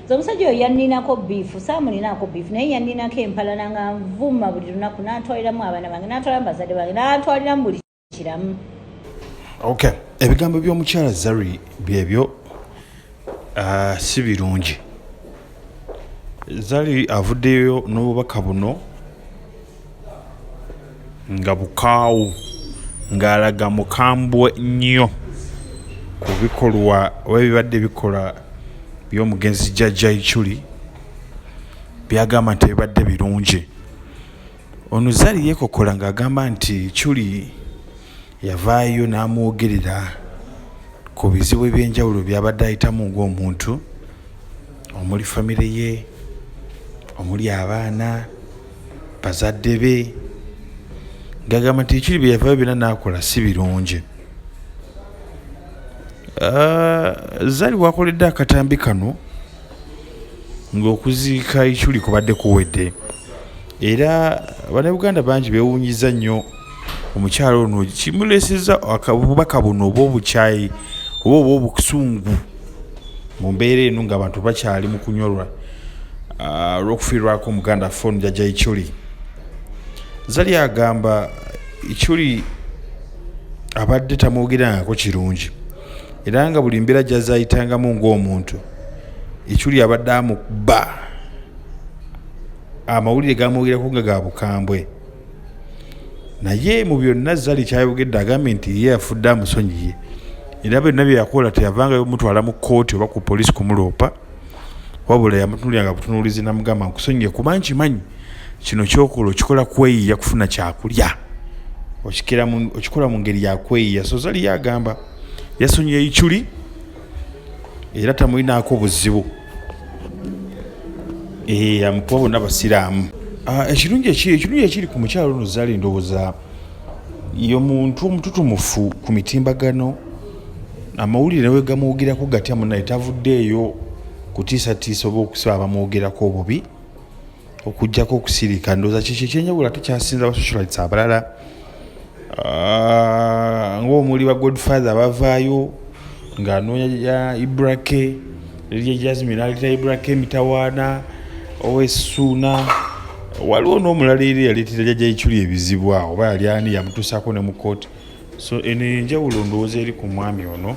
nze omusajja oyo yanninako biifu saamulinaako biifu naye yanninako empalana nga nvuma buli lunaku n'atwaliramu abaana bange n'atwaliramu bazadde bange n'atwaliramu buli kiramu ok ebigambo by'omukyala zari byebyo ah, si birungi zari avuddeyo n'obubaka buno nga bukaawu ng'alaga mukambwe nnyo ku bikolwa oba ebibadde bikola by'omugenzi Jajja Ichuli by'agamba nti ebibadde birungi. Ono Zari yeekokkola ng'agamba nti Ichuli... Yavaayo n'amwogerera ku bizibu eby'enjawulo by'abadde ayitamu ng'omuntu omuli famire ye, omuli abaana, bazadde be ng'agamba nti ekiri bye yavaayo byonna n'akola si birungi. Ah, Zari wakoledde akatambi kano ng'okuziika Ichuli kubadde kuwedde era Bannayuganda bangi beewuunyizza nnyo omukyalo ono kimuleseza obubaka buno oba obukyayi oba oba obusungu mu mbeera eno nga abantu bakyali mu kunyolwa ah, olw'okufiirwako omuganda fon jaja ichuli zali agamba ichuli abadde tamwogerangako kirungi era nga buli mbeera gyazayitangamu ng'omuntu ichuli abadde amukba amawulire gamwogerako nga ga bukambwe naye mu byonna zali kyayogedde agambye nti ye yafudde amusonyiye era byonna bye yakola teyavangayo mutwala mu kkooti oba ku poliisi kumuloopa wabula yamutunulyanga butunuulizi namugamba nkusonyiye kuba nkimanyi kino kyokola okikola kweyiya kufuna kyakulya okikola mu ngeri yakweyiya so zali yagamba yasonyiye ichuli era tamulinaako buzibu eh, amukuba bonna basiraamu ah, ekirungi ekirungi ekiri ku mukyalo ono zaala endowooza yo muntu omututumufu ku mitimbagano amawulire nawe gamwogerako gatya munaye tavuddeeyo kutiisatiisa oba okusaba bamwogerako obubi okujjako okusirika ndooza kiki ekyenjawula tukyasinza basocialites abalala ah, ngaomuli ba godfather bavaayo ngaanoonya ya ibrake lilya jasmin aleta ibrake emitawaana owesuuna waliwo n'omulala eri yaleetera jajja iculi ebizibu awo oba yali ani yamutuusaako ne mu kooti so eno enjawulo ndowooza eri ku mwami ono